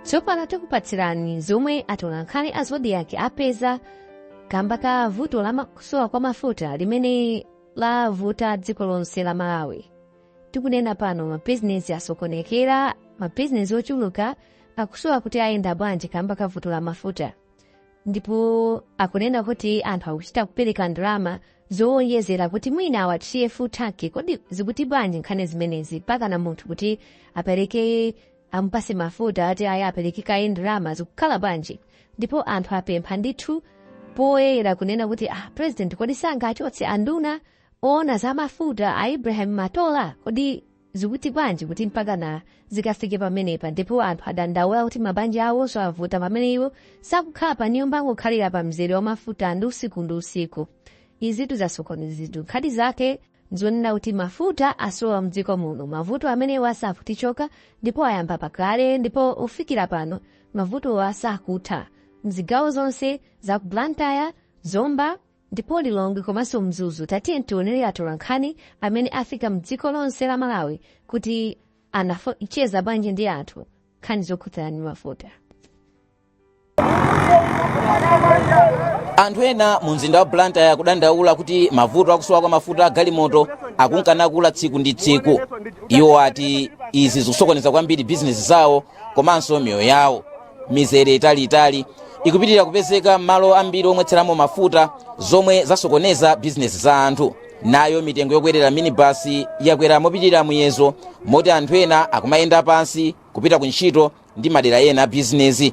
tsopano tikupatsirani zomwe atolankhani a zodiak apeza kamba ka vuto la kusowa kwa mafuta limene lavuta dziko lonse la malawi tikunena pano mabizinesi asokonekera mabizinesi ochuluka akusowa kuti ayenda bwanji kamba ka vuto la mafuta ndipo akunena kuti anthu akuchita kupereka ndalama zowonjezera kuti mwina awathiye futaki kodi zikuti bwanji nkhani zimenezi mpakana munthu kuti apereke amupatse mafuta ati ayi apereke kaye ndalama zikukhala bwanji ndipo anthu apempha ndithu poyera kunena kuti ah, president kodi sangachotse anduna oona za mafuta a ibrahim matola kodi zikuti bwanji kuti mpakana zikafike pamenepa ndipo anthu adandaula kuti mabanja awonso avuta pamene iwo sakukhala pa nyumba akungokhalira pa mzere wa mafuta ndi usiku ndi usiku izitu zasokonezitu nkhani zake zonena kuti mafuta asowa mdziko muno mavuto amenewo sakutichoka ndipo ayamba pakale ndipo kufikira pano mavutowo sakutha mzigawo zonse za ku blantyre zomba Ndipo Lilongwe komanso Mzuzu tatiye tionere atolankhani amene afika mdziko lonse la Malawi kuti anacheza bwanji ndi anthu nkhani zokhudzana ndi mafuta. anthu ena mu mzinda wa blantyre akudandaula kuti mavuto akusowa kwa mafuta a galimoto akunka nakula tsiku ndi tsiku iwo ati izi zikusokoneza kwambiri bizinesi zawo komanso miyoyo yawo mizere italiitali ikupitirira kupezeka m'malo ambiri omwetseramo mafuta zomwe zasokoneza bizinesi za anthu nayo mitengo yokwerera minibasi yakwera mopitirira muyezo moti anthu ena akumayenda pansi kupita ku ntchito ndi madera ena a bizinesi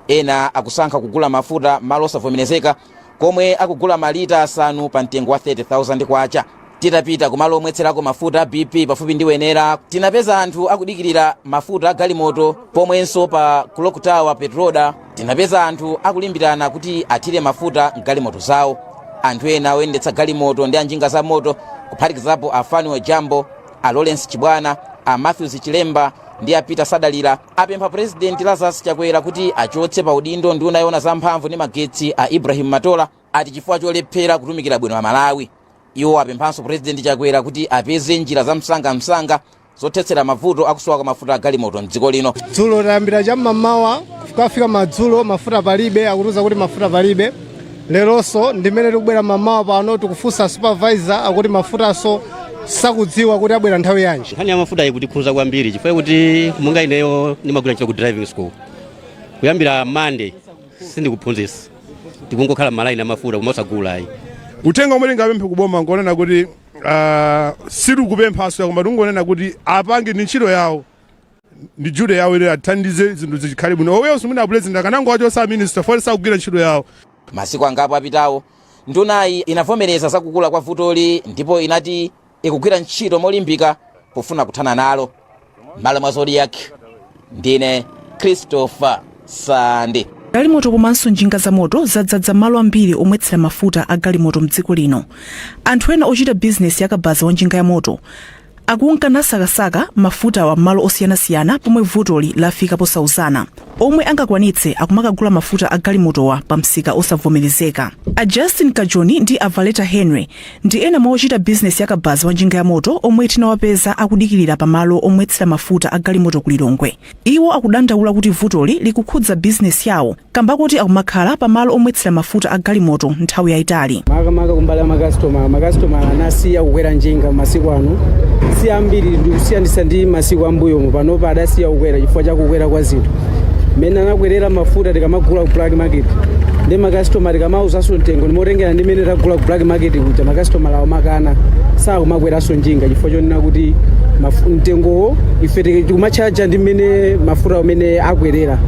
ena akusankha kugula mafuta malo osavomerezeka komwe akugula malita asanu pa mtengo wa K30,000. Titapita kumalo omwetserako mafuta a BP pafupi ndi Wenera, tinapeza anthu akudikirira mafuta a galimoto. Pomwenso pa Clock Tower Petroda, tinapeza anthu akulimbirana kuti athire mafuta m'galimoto zawo. Anthu ena oyendetsa galimoto ndi anjinga za moto kuphatikizapo a Fanuel Jambo, a Lawrence Chibwana, a Matthews Chilemba ndi a Peter Sadalira apempha President Lazarus Chakwera kuti achotse pa udindo nduna yoona za mphamvu ndi magetsi a Ibrahim Matola ati chifukwa cholephera kutumikira bwino Amalawi. Iwo apemphanso President Chakwera kuti apeze njira za msangamsanga zothetsera mavuto akusowa kwa mafuta a galimoto m'dziko lino. dzulo tayambira cham'mamawa kukafika madzulo mafuta palibe akutiuza kuti mafuta palibe lelonso ndimene tikubwera mamawa pano tikufunsa supervisor akuti mafutanso sakudziwa kuti abwera nthawi yanji nkhani ya mafuta ikutikhudza kwambiri chifukwa kuti monga ineyo ndimagwira ntchito ku driving school kuyambira mande sindikuphunzitsa tikungokhala malaini amafuta koma osagula ayi uthenga umene ngapemphe kuboma ngonena kuti uh, sitikupemphanso koma tingonena kuti apange ndi ntchito yawo ndi duty yawo ili athandize zinthu zikhale bwino. Owenso mwina president akanangowachotsa a minister poti sakugwira ntchito yawo. Masiku angapo apitawo, ndunayi inavomereza za kukula kwa vutoli ndipo inati ikugwira ntchito molimbika pofuna kuthana nalo. M'malo mwa Zodiak, ndine Christopher Sande. galimoto komanso njinga za moto zadzadza mmalo ambiri omwetsera mafuta a galimoto mdziko lino anthu ena ochita bizinesi yakabaza wa njinga ya moto akunka nasakasaka mafutawa m'malo osiyanasiyana pomwe vutoli lafika posauzana omwe angakwanitse akumakagula mafuta a galimotowa pa msika osavomerezeka a justin kajoni ndi a valeta henry ndi ena mwa ochita bizinesi yakabaza wa njinga ya moto omwe tinawapeza akudikirira pa malo omwetsera mafuta a galimoto ku lilongwe Iwo akudandaula kuti vutoli likukhudza bizinesi yawo kamba koti akumakhala pa malo omwetsera mafuta a galimoto nthawi yayitali. Makamaka kumbali ya makasitomala, makasitomala anasiya kukwera njinga masiku ano si ambiri ndikusiyanitsa ndi masiku ambuyomu. Panopa adasiya kukwera chifukwa cha kukwera kwa zinthu mmene anakwerera mafuta tikamagula ku black market ndi makasitoma tikamawuzanso mtengo ndimotengera ndi mmene tagula ku black market kuja makasitomala amakana sakumakweranso. njinga chifukwa chonena kuti mafu- mtengowo ife tike- tikumatchaja ndi mmene mafuta amene akwerera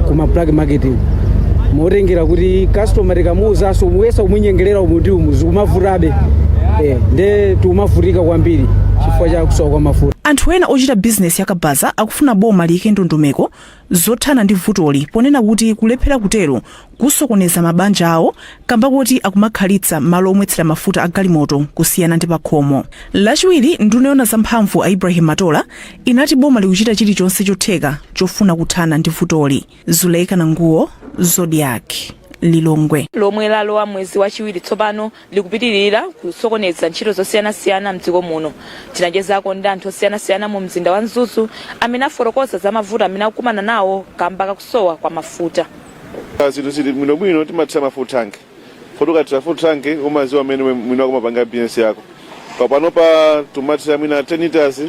ku ma black market motengera kuti customer tikamuwuzanso kuyesa kumunyengerera umu ndi umu zikumavutabe eh, nde tikumavutika kwambiri chifukwa cha kusowa kwa mafuta anthu ena ochita bizinesi yakabaza akufuna boma liyike ndondomeko zothana ndi vutoli ponena kuti kulephera kutero kusokoneza mabanja awo kamba koti akumakhalitsa malo omwetsera mafuta a galimoto kusiyana ndi pakhomo. Lachiwiri, nduna yoona za mphamvu a Ibrahim Matola inati boma likuchita chilichonse chotheka chofuna kuthana ndi vutoli. Zuleika Nanguwo, Zodiak, Lilongwe. lomwe lalowa mwezi wachiwiri tsopano likupitilira kusokoneza ntchito zosiyanasiyana mdziko muno. Tinachezako ndi anthu osiyanasiyana mu mzinda wa Mzuzu amene afotokoza za mavuto amene akukumana nawo kamba kakusowa kwa mafuta. zinthu zili bwinobwino timathira ma full tank poti ukathira full tank umaziwa amene mwina ukumapanga business yako panopa tumathira mwina 10 liters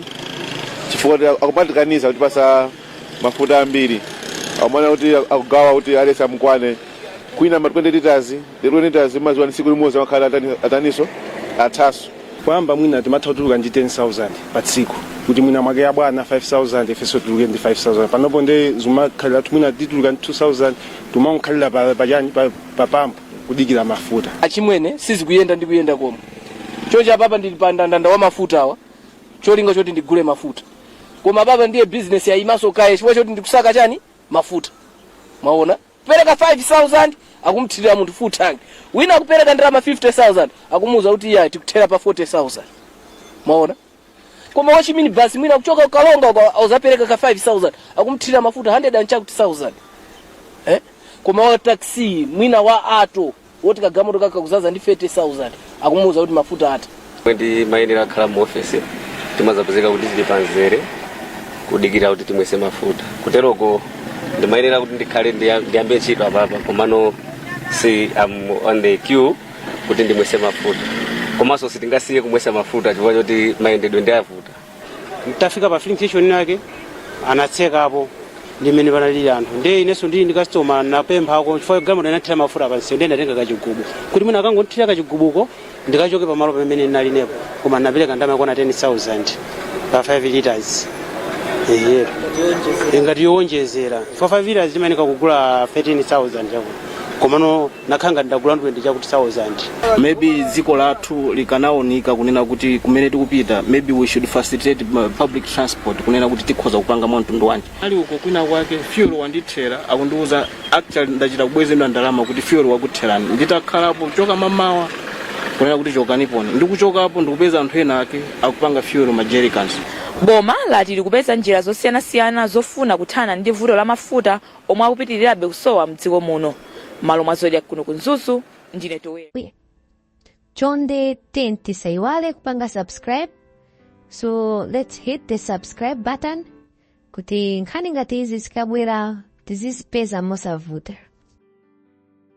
chifukwa akumatikaniza kutipatsa mafuta ambiri akumati kuti akugawa kuti aliyense amukwane kwina ma 20 liters lero nita zimaziwa ndi tsiku limodzi amakhala atani- ataninso athanso kwamba mwina timatha kutuluka ndi 10000 pa tsiku kuti mwina mwake ya bwana 5000 ifenso tituluke ndi 5000 panopo nde zimakhalira kuti mwina tituluka ndi 2000 timakhalira pa, pa, chani, pa, pa pampu kudikira mafuta achimwene sizikuyenda ndi kuyenda komwe chocha papa ndili pa ndandanda wa mafuta awa cholinga choti ndigule mafuta koma papa ndiye business yayimanso kaye chifukwa choti ndikusaka chani mafuta mwaona Kupereka 5,000 akumthirira munthu full tank. Wina akupereka ndalama 50,000 akumuuza kuti iya tikuthera pa 40,000. Mwaona? Koma wa chiminibasi mwina akuchoka ku Karonga akazapereka ka 5,000 akumthirira mafuta 100 and chakuti 1000. Eh? Koma wa taxi mwina wa Alto woti kagamoto kake kuzaza ndi 30,000 akumuwuza kuti mafuta atha Mmene ndimayenera kukhala mu ofesi timazapezeka kuti tili panzere kudikira kuti timwese mafuta kuteroko ndimayenera kuti ndikhale ndiya- ndiyambe ntchito apapa komano see I am on the queue kuti ndimwese mafuta komanso sitingasiye kumwesa mafuta chifukwa choti mayendedwe ndi ovuta nditafika pa filling station yake anatsekapo ndimene panalili anthu ndiye inenso ndili ndi customer napemphako chifukwa galimoto inathira mafuta pansi ndiye ndatenga kachigubu kuti mwina akangondithira kachigubuko ndikachoke pamalo pamene ndinali inepo koma napereka ndalama yokwana 10000 pa 5 liters ehe ngati yowonjezera chifukwa 5 liters timayenera kugula 13000 chakuti komano nakhala ngati ndagula ndi 20 chakuti 1000 maybe dziko lathu likanaonika kunena kuti kumene tikupita maybe we should facilitate uh, public transport kunena kuti tikhoza kupanga mwa mtundu wanji ndili uko kwina kwake fuel wandithera akundiuza actually ndachita kubwezeredwa ndalama kuti fuel wakutherani nditakhalapo kuchoka mamawa kunena kuti chokaniponi ndikuchokapo ndikupeza anthu ena ake akupanga fuel ma jerrycans boma lati likupeza njira zosiyanasiyana zofuna kuthana ndi vuto la mafuta omwe akupitirirabe kusowa mdziko muno mmalo mwa zodiak kuno ku mzuzu ndine towera chonde then tisaiwale kupanga subscribe so let's hit the subscribe button kuti nkhani ngati izi zikabwera tizizipeza mosavuta